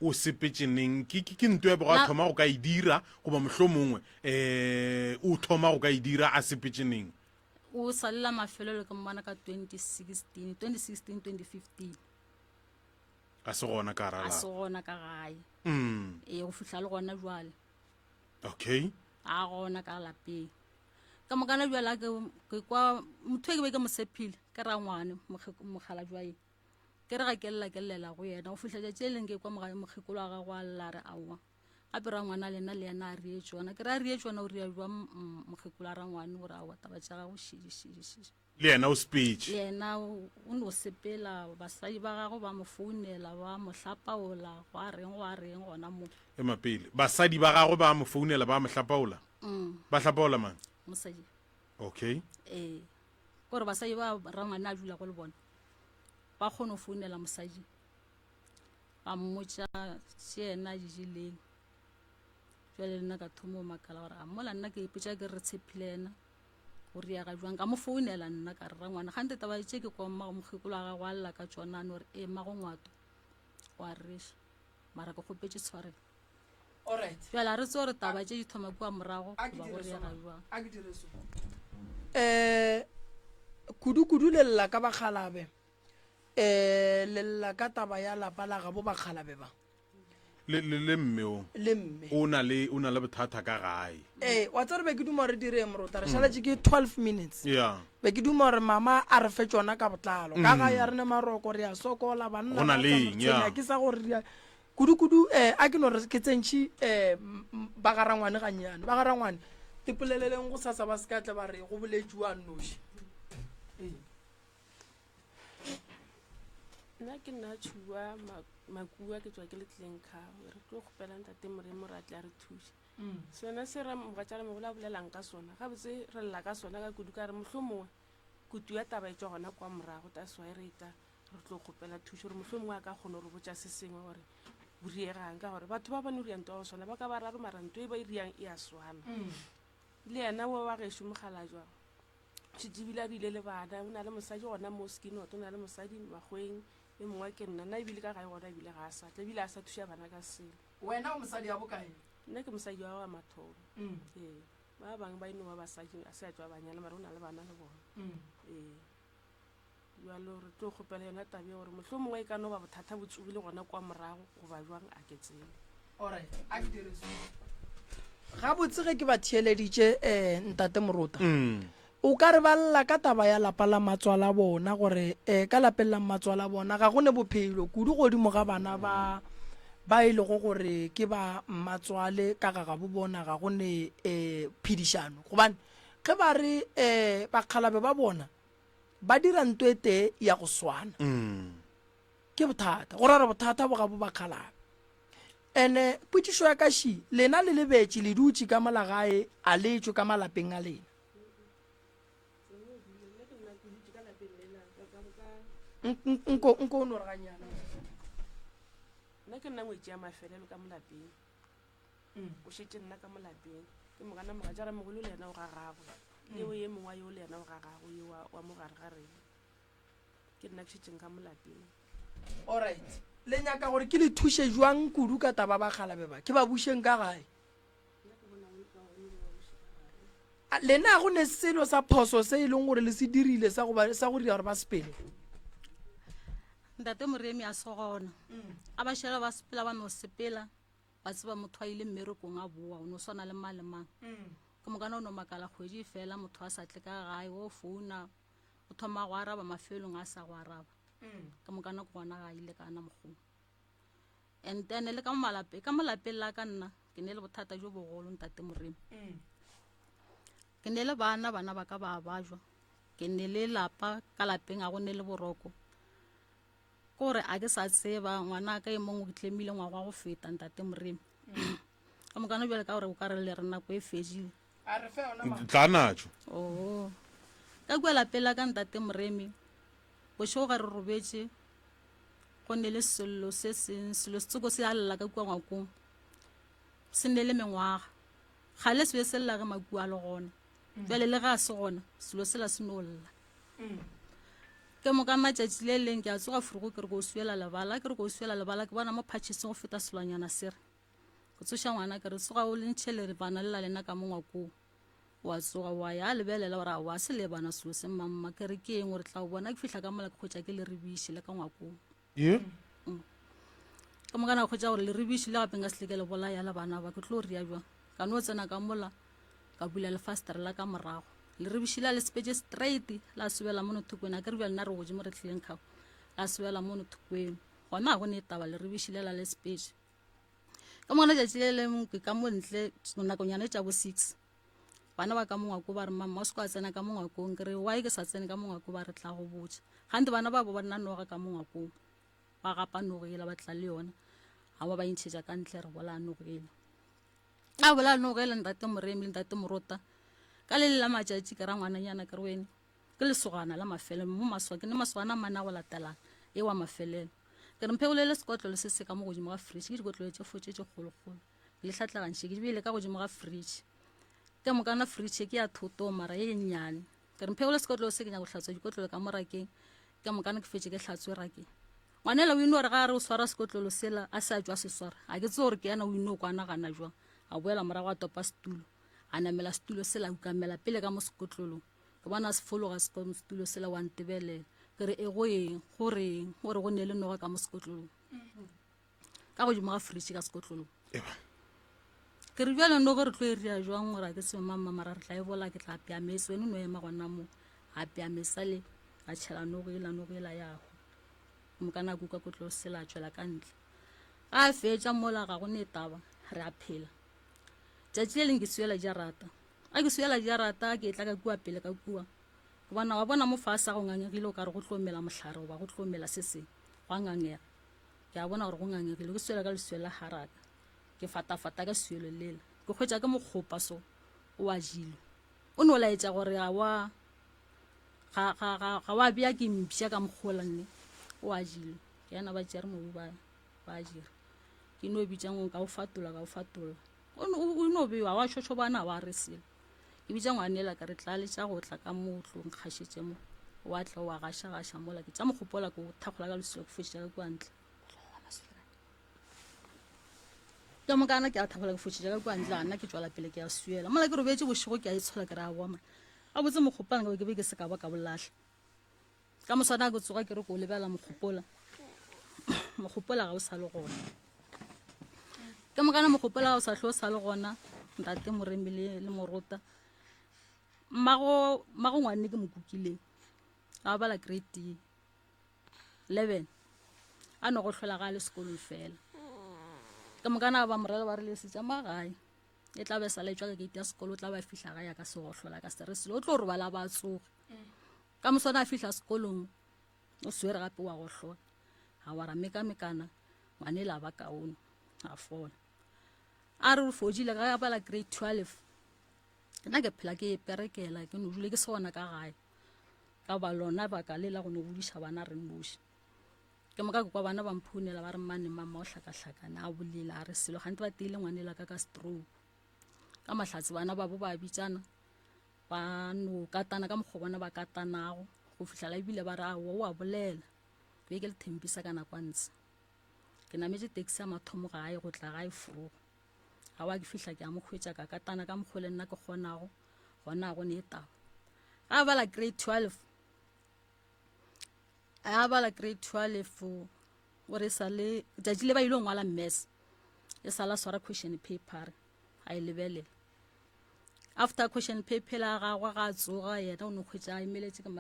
[SPEAKER 1] o sepetše neng ke, ke, ke nto ya bego a thoma go ka e dira goba mohlho mongwe um o thoma go ka e dira a sepetše neng o salela mafelelo ke mmona ka 2016 2016 2015 a se gona ka a se gona ka gae mm. ee go fitlha le gona jwale okay a gona ka lapeng ka mokana jwale ke kwa motho e ke be ke mosephile ke ra ngwane mokgala jwae ke re ga ke lela ke llela go yena go fihla tšatši le leng ke kwa mogae mokgekolo wa gago a lela a re aowa gape ra ngwana le nna le yena a rie tsona ke re a rie tsona o ria jwa mokgekolo a rangwane gore aowa taba tša gago šidišidišidi le yena o sepetse le yena o ne o sepela basadi ba gago ba mo founela ba mo hlapaola go a reng go a reng gona mo e mapele basadi ba gago ba mo founela ba mo hlapaola mm. ba hlapaola mang mosadi okay ee gore basadi ba rangwane a dula go le bona ba kgone go founela mosadi ba mmotsa se ena a dijeleng jale le nna ka thoma o makala gore a mola nna ke ipotsa ke re tshepile ena o riaga jwang ka mo founela nna ka rera ngwana ga nte taba tse ke kwa mmago mokgekolo wa gago a lla ka tsona a no re ee mmago ngwato wa resa mara ke kgopetše tshwareng Alright. bjale a re tse gore taba tše di thoma kua morago A ke goba go dire so, reega man. jwang A ke dire so. Eh, kudu-kudu le lla ka bakgalabe. Eh, le lla ka taba ya lapa la gabo bakgalabe ba. le, le, le mme o Le mme. o na le o na le bothata ka gae Eh, wa tsere be ke duma re direng morota. Re šaletše ke 12 minutes. ya Be ke duma gore mama a re fe tšona ka botlalo ka ga ya rene maroko re a sokola banna Go na ba le tla eng, tshwenya, ya. ke sa gore re a- kudu-kudu um a ke no re ke tsentšhi um ba ga rangwane gannyane ba ga rangwane ipoleleleng go sasa ba se ka tle ba re go boletšiwa a nnoši nna ke nna tšhuwa Ma- makua ke tswa ke le tleng kgawe re tlo kgopela ntate moremo re a tle a re thuše Umm sona se re mogatšalemogolo a bolelang ka sona gabotse re lla ka sona ka kudu ka re mohlomongwe kutu ya taba e tšwa gona kwa morago taswa e re eta re tlo kgopela thušo gore mohlomongwe a ka kgona gore botša se sengwe gore o riegang ka gore batho ba bane o rianto wa go swana ba ka ba raro mara nto e ba e riang e a swana mm. le yena wa wa gešo mogala jwa šetebile a bile le bana o na le mosadi gona mo skinot o na le mosadi makgweng e mongwe ke nna nna ebile ka gae gona ebile ga a satla ebile a sa thuša bana ka selo Wena o mosadi ya bokae? Nna ke mosadi wa wa mathomo. Mm. Ee. Ba bang ba eno ba basadi a se a tšwa banyana mare o na le bana le bona. Mm. Ee. Jalo re tlo kgopela yona tabe ya gore motlho mongwe e ka no ba bothata bo tsogile gona kwa morago goba jwang a ke tsebe. Alright, a ke dire so. Ga botse ge ke ba theeleditše eh ntate Morota. Mm. O ka re ba lla ka taba ya lapa la mmatswale a bona gore eh, ka lapeng la mmatswale a bona ga go ne bophelo kudu godimo ga bana ba ba e lego gore ke ba mmatswale ka ga gabo bona ga go ne eh, phedišano gobane ge ba re eh, bakgalabe ba bona ba dira nto e tee ya go swana ke bothata go rara bothata bo gabo bakgalabe ene potsišo ya kaši lena le lebetše le dutše ka molagae a letswe ka malapeng a lena nna ke nna ngwetse ya mafelelo ka molapeng o šetse nna ka molapeng ke mogana moga jara mogolo le ena o ga gagwe leo ye mongwa yo le ena o ga gagwe yo wa- wa mogare ga rena ke nna ke šetseng ka molapeng allright le nyaka gore ke le thuše jwang kudu ka taba ba kgalabe ba ke ba bušeng ka gae A- lena go ne selo sa phoso se e leng gore le se dirile sa go ba- sa go dira gore ba sepele ntate moremi a se gona a ba šela ba sepela ba no sepela ba tseba motho a ile mmerekong a boa o no swana le mang le mang ke mokana o no makala kgwedi e fela motho a sa tle ka gae o founa o thoma go araba mafelong a sa go araba ke mokana ke gona ga a ile kana mokgong and then le ka mo malapeng ka mo lapeng la ka nna ke ne le bothata jo bogolo ntate moremo ke ne le bana bana ba ka ba bajwa ke ne le lapa ka lapeng a go ne le boroko ke gore a ke sa tseba ngwana ka e mongwe ke tlemile ngwago wa go feta ntate moremo ka mokana jale ka gore o ka re le re nako e fedile a re fe ona mama tla natšo oo ka kua lapela ka ntate moremi bošego ga re robetše go ne le sello se seng selo setsoko se a lla ka kua ngwakong se ne le mengwaga ga le sebe se lla ge makua a le gona mm. jale le ga se gona selo se la se no lla mm. ke mo ka matšatši le leng ke a tsoga furugo ke re ko swela lebala ke re ko swela lebala ke bona mo phatšheseng go feta selwanyana se re go tsoša ngwana ka re tsoga o lentšhe le re bana lela lena ka mongwa koo wa tsoga wa ya a lebelela gore a wa se le bana selo se mamma ke re ke eng gore tla o bona ke fihla ka mola ke kgotša ke le rebiše le ka ngwakong ye mm. ka moka na kgotša gore le rebiše le gapeng ka seleke le bolaya le bana ba ke tlo ria jwang ka no tsena ka mola ka bula lefastere la ka morago le rebiše la le sepetse straight la sobela mono thokweni a ke re bja nna re gojimo re tlhileng kgago la sobela mono thokweni gona ga go ne e taba le rebiše le la le sepetse ka mona tšatši le lengwe ke ka montle nakonyana e tša bo six bana ba ka mongwako ba re mama o se ka tsena ka mongwakong ke re wy ke sa tsene ka mongwako ba re tla go botsa gante bana ba bo ba nna noga ka mongwakong ba gapa nogo ela ba tla le yona ga ba ba intšhetša ka ntle re bolaya nogo ela a bolaya nogo ela ntate moremi le ntate morota ka le le la matšatši ke ra ngwananyana ke re wene Ke lesogana la mafelelo mo maswa, ke ne masogana a mana go latelana, e wa mafelelo. Ke re mphekolele sekotlolo se se ka mo godimo ga fridge, ke dikotlolo tše fotše tše kgolokgolo. Ke le hlatlagantšhe, ke di beile ka godimo ga fridge. Ke mokana fridge ke ya thotong mara ye nnyane. Ke re mphekolele sekotlolo se ke nyaka go hlatswa dikotlolo ka mo rakeng, ke mokana ke fetše ke hlatswe rakeng. Ngwanela o ino re ga a re o swara sekotlolo sela, a se a tšwa se swara. Ga ke tse gore ke yena o ino kwana gana jwang, a boela morago a topa setulo, a namela setulo sela, a ukamela pele ka mo sekotlolong. gobane a se fologa setulo sela wa ntebelela ke re e go eng go reng o re go ne le noga ka mo sekotlolong ka godimo ga fridge ka sekotlolong ke re bjale noge re tlo e rea jwang gore a ke seo mamma mara re tla e bola ke tla apea mese wene no ema gona mo a apea mesa le a tšhela nogo ela nogo ela yago mo ka nako ka kotlolo sela a tšwela ka ntle a fetša mola ga go ne taba re a phela tšatši le leng ke seo ela ja rata A ke swela diarata ke etla ka kua pele ka kua gobana wa bona mo fase go ngangegile o ka re go tlo mela mohlare goba go tlo mela se seng gwa ngangega ke a bona gore go ngangegile ke swela ka leswelo la haraka ke fatafata ka swelo lela ke kgwetsa ke mokgopa so o a jilo o ne o laetša gore ga wa ga wa bea ke mpša ka mokgola nne o a jilo ke yana ba tšere mobu ba ba jira ke no bitšang o ka o fatola ka o fatola O no, o no bewa, wa šošobana, wa re selo. Ke bitša ngwanela ka re tlaletša go tla ka mo tlong kgašetše mo. Wa tla wa gašagaša mola ke tša mogopola ke o thakgola ka leswika ke fotšetša ka kua ntle. ka mokana ke a thagola ke fotšetša ka kua ntle a nna ke tswela pele ke a suela mola ke robetse bošego ke a itshola ke re a boma a botse mokgopana ke be ke be ke se ka ba ka bolatlha ka moswana ke tsoga ke re ko lebelela mogopola mogopola ga o sa le gona ke mokana mogopola ga o sa tlho o sa le gona ntate moremi le le morota mmago mmago ngwane ke mokukileng ga o bala grade eleven a no go tlhola ga le sekolong fela ke mokana ba morela ba re le setsa ma gae e tla be sa le tswa ka gate ya sekolo o tla ba fihla ga ya ka segotlhola ka se re selo o tlo robala ba tsoge Ka moswane a fihla sekolong o swere gape wa gohlola a wara mekamekana ngwanela ba kaone a fola a re o fodile ga bala grade 12 nna ke phela ke perekela ke nodule ke sona ka gae ka ba lona baka le la go nogodiša bana re noši ke moka ke kwa bana ba mphounela ba re mmane mama o hlakahlakane a bolela a re selo gante ba teile ngwanela ka ka stroke ka mahlatse bana babo ba bitsana ba no katana ka mokgwa bona ba katanago go fihlala ebile ba re a wa wa bolela be ke le thempisa ka nakwantse ke nametse taxi ya mathomo gae go tla gae frogo ga wa ke fihla ke a mo kgwetsa ka katana ka mokgwa le nna ke kgonago gona go ne e taba ga bala grade twelve a bala grade twelve o re sa le tšatši le ba ile ngwala mess e sala swara question paper a e lebelela after question paper la gagwe ga a tsoga yena o ne kgwetsa a emeletše ka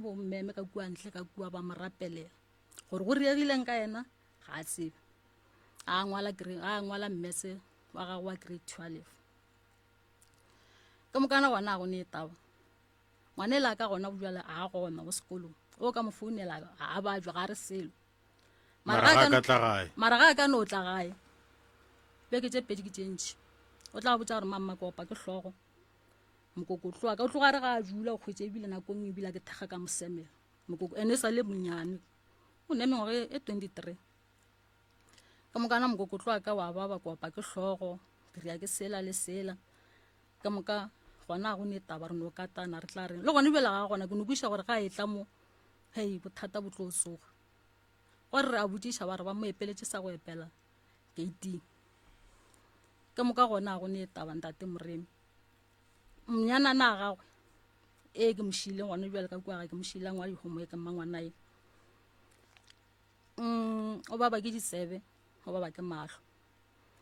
[SPEAKER 1] bommeme ka kua ntle ka kua ba mo rapelela gore go riegileng ka yena ga a tsebe a ngwala mmese wa gagwe wa grade twelve ka mokana gona go ne taba ngwane la ka gona bjale a gona mo sekolong o ka mo founela a bajwa ga re selo mara ga a ka tla gae mara ga a ka no tla gae beke tše pedi ke tše ntšhi o tla botsa gore mamma kopa ke hlogo mokoko tloa ka o tloga re ga a jula o kgwetse ebile nako nngwe ebile ke thekga ka mosemela mokoko ene e sa le monyane o ne mengwaga e, e twenty three ka mokana mokoko tloa ka wa baba kopa ke hlogo ke rea ke sela le sela ka moka gona go ne taba re no katana re tla reng le gone bjela ga gona ke no kweša gore ga e tla mo hei bothata bo tlo soga gore re a botšiša ba re ba mo epeletše sa go epela gating ka moka gona go ne taba ntate moremi mnyanana a gagwe e ke mošileng gone bjale ka kua ga ke mošilang wa dihomo e ke mmangwanae mm, o baba ke ditsebe o baba ke mahlo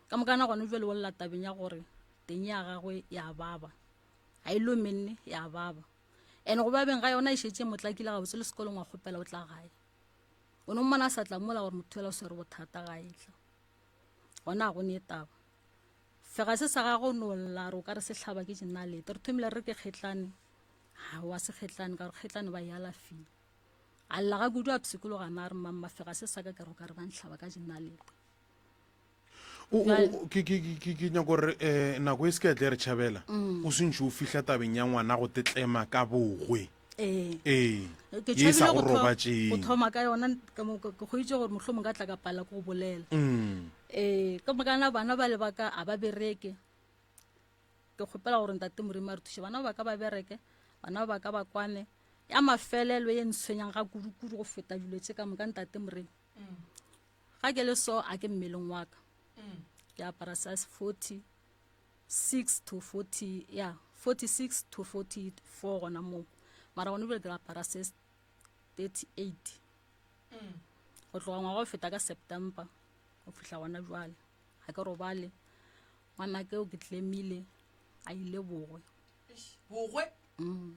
[SPEAKER 1] ka mokana gone jale o lela tabeng ya gore teng ya gagwe ya baba ga e lomenne ya baba and go babeng ga yona e šetse motlakile gabotse le sekolong wa kgopela o tla gae o ne mmona a sa tlamola gore motho fela o swere bothata ga etla gona ga go ne taba fega se sa gago no lla re o ka re setlhaba ke jenalete re thomile re ke kgetlane ga wa se kgetlane ka gore kgetlane ba e alafile a lla ga kudu a pshikologa na re mamma fega se sa ka ke re o ka re ba ntlhaba ka jenalete O- o- o- ke ke- ke- ke- ke nyako gore um nako e se ka tle re tšhabela Mm. o sentšhe o fihla tabeng ya ngwana go tetlema ka bogwe ee ee ke ye e sa tšhabile go go tho- go robatšeng thoma ka yona ka mo- ke kgoitse gore mohlho mongwe ka tla ka pala ko go bolela Mm. ee ka mokana bana ba lebaka a ba bereke ke kgopela gore ntate morimo a re thuše bana ba ka ba bereke bana ba ka ba kwane ya mafelelo e ntshwenyang ga kudu-kudu go feta dilo tse ka moka ntate morimo ga ke le so a ke mmeleng wa ka mm. ke apara size 40 6 to 40 ya yeah, 46 to 44 gona moo mara gone bile ke apara se 38 mm. go tloga ngwaga go feta ka september go fihla gona jwale ga ke robale ngwana keo ke tlemile a ile bogwe bogwe mm.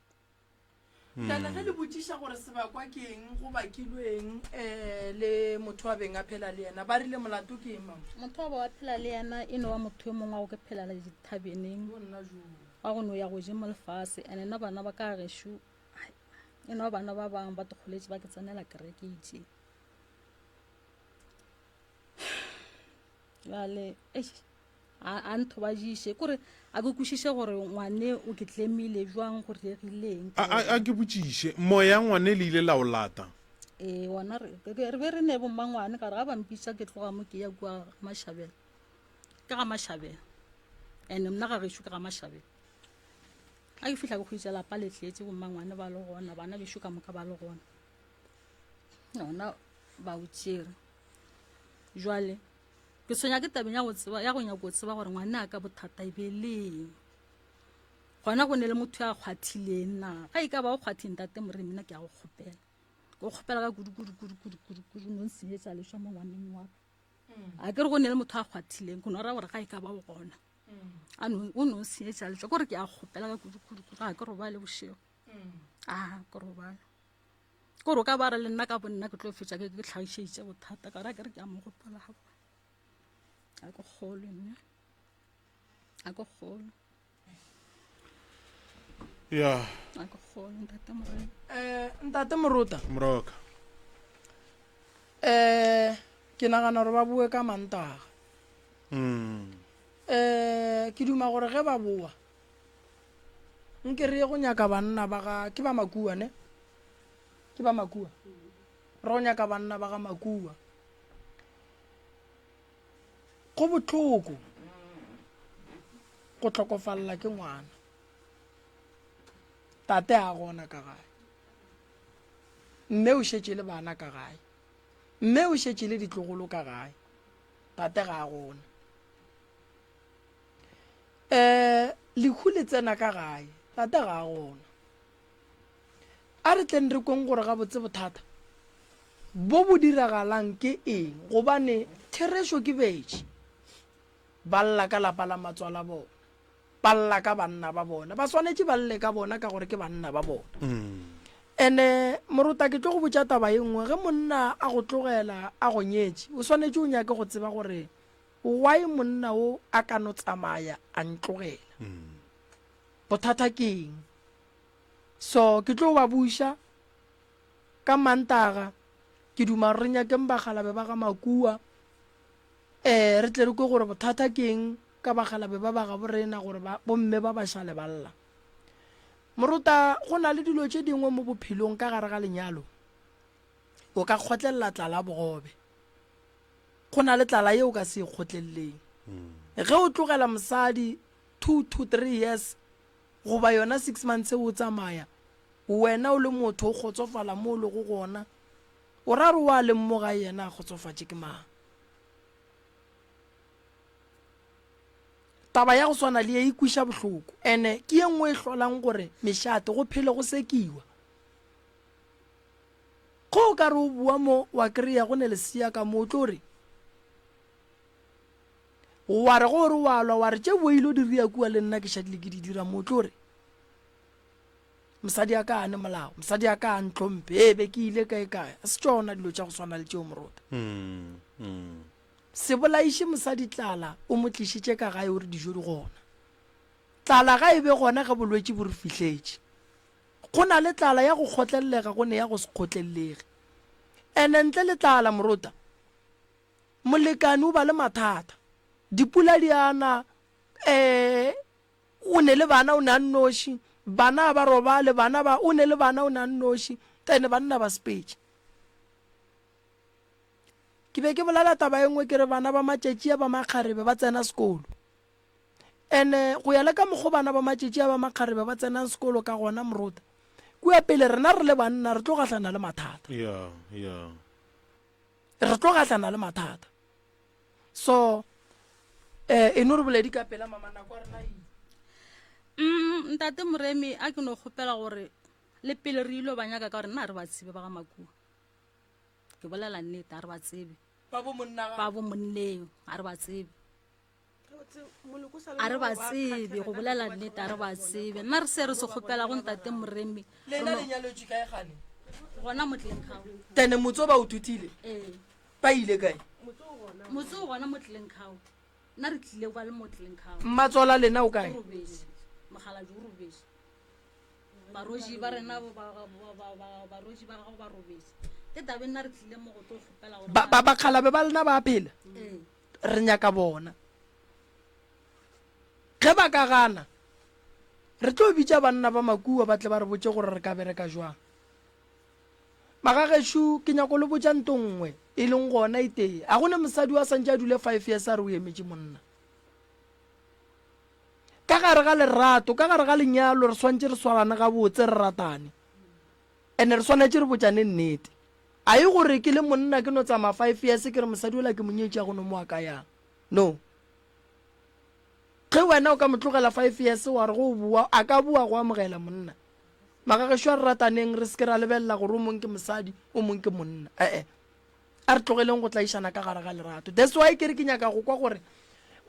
[SPEAKER 1] Jale ge le botšiša gore sebakwa ke eng go bakilweng um le motho wa beng a phela le yena ba rile molato ke eng mama motho wa ba wa phela le yena e no wa motho yo mongwe wa go ke phelela dithabeneng wa go no ya go je mo lefase and ena bana ba ka gešo e no wa bana ba bangwe ba tokgoletše ba ke tsenela kereketse bjale eish, a a nthobajiše kore a ke kwešiše gore ngwane o ke tlemile bjang go diregileng A, a, a ke botšiše, moya ya ngwane le ile la o lata? ee gona re re be- re be re ne bommangwane ka re ga ba mpitša ke tloga mo ke ya kua ga mašabela ke ga mašabela and mna ga gešo ke ga mašabela ga ke fihla ke kgwetša lapa le tletse bommangwane ba le gona bana bešo ka moka ba le gona gona ba o tšere jwale ke tshwenya ke tabeng ya go tseba ya go nyaka go tseba gore ngwane a ka bothata e be leng gona go ne le motho ya kgwathileng na ga e ka ba o kgwatheng tate moreng mina ke ya go kgopela ke kgopela ka kudukudukudukudukudu no nsenyetsa leswa mo ngwaneng wa a ke re go ne le motho a kgwathileng go no raya gore ga e ka ba o gona o no nsenyetsa leswa kore ke ya kgopela ka kudukudukudu ga ke robale bošego a ke robale kore o ka ba re le nna ka bo nna ke tlo fetša ke ke tlhagišeditše bothata ka ra ke re ke a mo gopola ga bona a ke kgolwe nne a ke kgolwe ya a ke kgolwe ntate morena um ntate morota moroka um ke nagana gore ba boe ka mantaga um ke duma gore ge ba boa nke re ye go nyaka banna ba ga ke ba makua ne ke ba makua re go nyaka banna ba ga makua go botlhoko go tlhokofalela ke ngwana tate a gona ka gae mme o šetše le bana ka gae mme o šetše le ditlogolo ka gae tate ga a gona um lehu le tsena ka gae tata ga a gona a re tleng re kweng gore gabotse bothata bo bo diragalang ke eng gobane therešo ke betše ba lla ka lapa la matswala bona ba lla ka banna ba bona ba swanetše ba lle ka bona ka gore ke banna ba bona ene mm. morota ke tlo go botša taba e nngwe ge monna a go tlogela a go nyetše o swanetše o nyake go tseba gore Why monna o a ka no tsamaya a ntlogela? Bothata ke eng? So ke tlo ba buša ka Mantaga, ke duma re nyakeng bagalabe ba ga Makua, um re tle re kwe gore bothata ke eng ka bagalabe ba ba gabo rena gore ba bomme ba ba šale ba lla. Moruta go na le dilo tše dingwe mo bophelong ka gare ga lenyalo, O ka kgotlelela tlala bogobe. Go na le tlala ye o ka se e kgotleleleng. Ge o tlogela mosadi two to three years goba yona six months o tsamaya, wena o le motho o kgotsofala mo o lego gona, o ra re o a leng mo gae yena a kgotsofatše ke mang? Taba ya go swana le ye e kwiša bohloko ene ke ye nngwe e hlolang gore mešate go phele go sekiwa. Ge o ka re o bua mo, wa kry-a go ne lesea ka mo, o tlo re, wa re go re wa lwa, wa re tše bo ilo di ria kua le nna ke šadile ke di dira mo, o tlo re, mosadi a ka ane molao mosadi a ka a ntlhomphe ee be ke ile kae kae a se tsona dilo tša go swana le tšeo morota mm, mm. se bolaiše mosadi tlala o mo tlišitše ka gae o re dijo di gona tlala ga e be gona ge bolwetši bo re fihletše Go na le tlala ya go kgotlellega go ne ya go se kgotlellege. And ntle le tlala, morota, molekane o ba le mathata. Dipula di a na, um, o ne le bana o ne a nnoši, bana ba robale, bana ba, o ne le bana o ne a nnoši, and banna ba sepetše. Ke be ke bolela taba e nngwe ke re bana ba matšatši a ba makgarebe ba tsena sekolo. Ene go ya le ka mokgo bana ba matšetši a ba makgarebe ba tsenang sekolo ka gona, Morota, kua pele rena re le banna re tlo gahlana le mathata. Yeah, yeah. Re tlo gahlana le mathata. So, eh, e no re boledi ka pela, mama, nako ya rena e ile. Mm, Ntate Moremi, a ke no kgopela gore le pele re ilo ba nyaka ka gore nna re ba tsebe ba ga Makua. Ke bolela nnete, a re ba tsebe. Ba bo monna ga. Ba bo monneng, a re ba tsebe. a re ba tsebe go bolela nnete a re ba tsebe nna re se re se kgopela go ntate moremi lena le nyalwetswe kae gane gona motleng kgao tene motse o ba o thutile ee ba ile kae motse o gona motleng kgao nna re tlile kwa le motleng kgao mmatswala lena o kae robese mogaladi o robese baroji ba rena baroji ba gago ba robese ke tabe nna re tlile mo go tlo kgopela gore bakgalabe ba lena ba phela ee Re nyaka bona. Ge ba ka gana, re tlo bitša banna ba makua ba tle ba re botše gore re ka bereka jwang. Magagešo, ke nyaka go le botša nto nngwe, e leng gona e tee. Ga go ne mosadi yo a santše a dule five years a re o emetše monna. Ka gare ga lerato, ka gare ga lenyalo, re swantše re swarane gabotse, re ratane. And re swanetše re botšane nnete. A e gore ke le monna ke no tsamaya five years ke re mosadi ola ke mo nyetše ya go no mo wa ka yang? No. Ge wena o ka mo tlogela five years wa re go boa a ka boa go amogela monna? Mara gešo a re rataneng re se ke ra lebelela gore o mong ke mosadi o mong ke monna. E-e. A re tlogeleng go tlaišana ka gare ga lerato. That's why ke re ke nyaka go kwa gore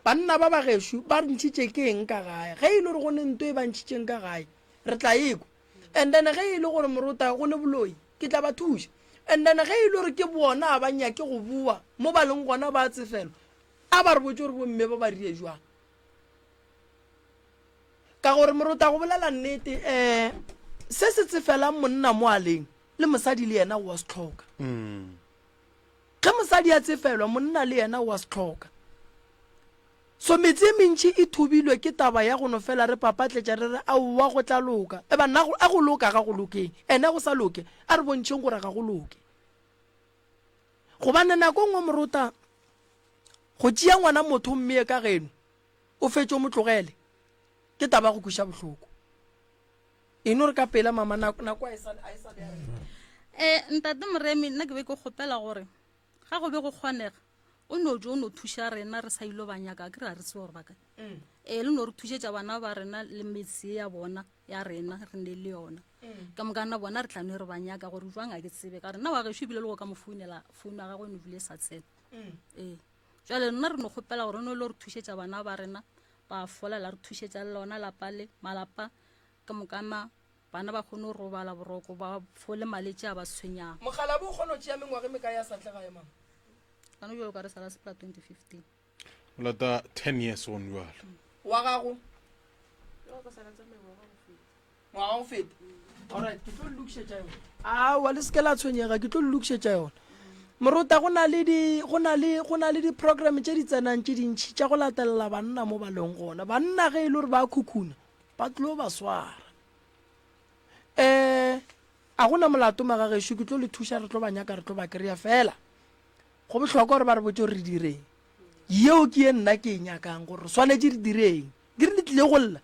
[SPEAKER 1] banna ba bagešo ba re ntšhitše ke eng ka gae. Ge e le gore go ne nto e ba ntšhitšeng ka gae re tla e kwa. And then ge e le gore morota go le boloi, ke tla ba thuša. And then ge e le gore ke bona a ba nyake go boa mo ba leng gona ba tsefelo, a ba re botse gore bomme ba ba rile jwang. Ka gore morota go bolela nnete um se se tsefelang monna moaleng le mosadi le yena o a se tlhoka. Ge mosadi a tsefelwa, monna le yena o a se hloka. So metse e mentši e thobilwe ke taba ya go no fela re papatletša re re, Aowa, go tla loka. E banna, a go loka ga go lokeng? Ene go sa loke? A re bontšheng gore ga go loke. Gobane nako nngwe morota go tšea ngwana motho mmee ka geno, o fetše o mo tlogele, ke taba ya go kweša bohloko. e no re ka pela mama nako a e sa um ntate moremi nna ke be ke kgopela gore ga go be go kgonega o no jo o no thuša rena re sa ilo ba nyaka ke re a re tsebe gore ba kae mm. ee le no re thušetša bana ba rena le metse ya bona ya rena re ne le yona mm. ka moka nna bona re tlano e re ba nyaka gore jwang a ke tsebe ka rena wa gešo ebile le go ka mo founela founu ya gagwe e no dule e sa tsena mm. ee jale nna re no kgopela gore o ne le re thušetša bana ba rena ba fola la re thušetša le lona lapa le malapa ka mokana bana ba kgone go robala boroko ba fole maletše a ba tshwenyago Mokgalabje o kgona go tšea mengwaga e mekae a sa tle gae, mama? Gona bjalo o ka re sala sepela 2015. O lata 10 years gone bjalo. Wa gago? Yoo, go sala tsamaye ngwaga go feta. Ngwaga go feta? Alright, ke tlo le lokišetša yona. Aowa, le se ke la tshwenyega, ke tlo le lokišetša yona. Morota, go na le di, go na le, go na le di-program tše di tsenang tše dintši tša go latelela banna mo ba leng gona. Banna ge e le gore ba khukhuna, ba tlo ba swara um a gona molato magagešo ke tlo le thuša re tlo ba nyaka re tlo ba kry-a fela go bohlokwa gore ba re botse gore re direng yeo ke ye nna ke e nyakang gore re swanetse re direng di re le tlile go lla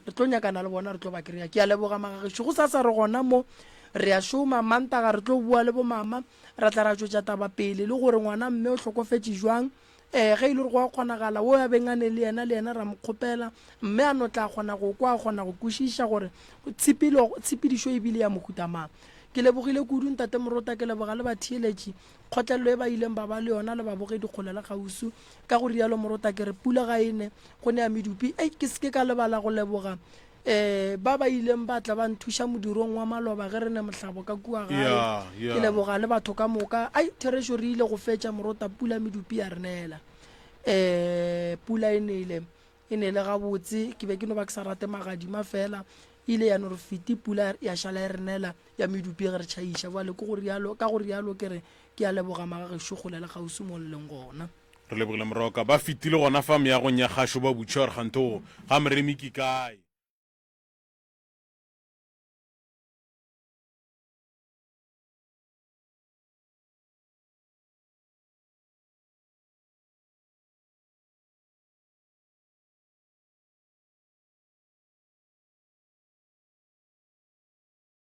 [SPEAKER 1] re tlo nyakana le bona re tlo ba kry-a ke a leboga magagešo go sa sa re gona mo re ya šoma mantaga re tlo bua le bomama ra tla ra tšwetša taba pele le gore ngwana mme o hlokofetse jwang Ee, ge e le gore go a kgonagala, wo a beng a ne le yena, le yena ra mo kgopela, mme a no tla kgona go kwa, a kgona go kwešiša gore tshepelo, tshepedišo e bile ya mohuta mang. Ke lebogile kudu, Ntate Morota, ke leboga le batheeletši, kgotlelelo e ba ileng ba ba le yona, le babogedi kgole le kgauswi. Ka go rialo, Morota, ke re, pula ga e ne, go ne ya medupi. Ei, ke se ke ka lebala go leboga Ee, ba ba ileng ba tla ba nthuša modirong wa maloba ge re ne mohlabo ka kua gae. Ya, ya. Ke leboga le batho ka moka. Ai, Therešo re ile go fetša morota pula medupi ya re neela. Ee, pula e nele. E nele gabotse. Ke be ke no ba ke sa rate magadima fela. E ile ya no re fiti pula ya šala e re neela ya medupi ge re tšhaiša. Bjale ke go rialo, ka go rialo ke re ke a leboga magagešu kgole le kgauswi mo le leng gona. Re lebogile moroka. Ba fetile gona fa meagong ya gašo ba butše gore kgantho ga Moremi ke kae.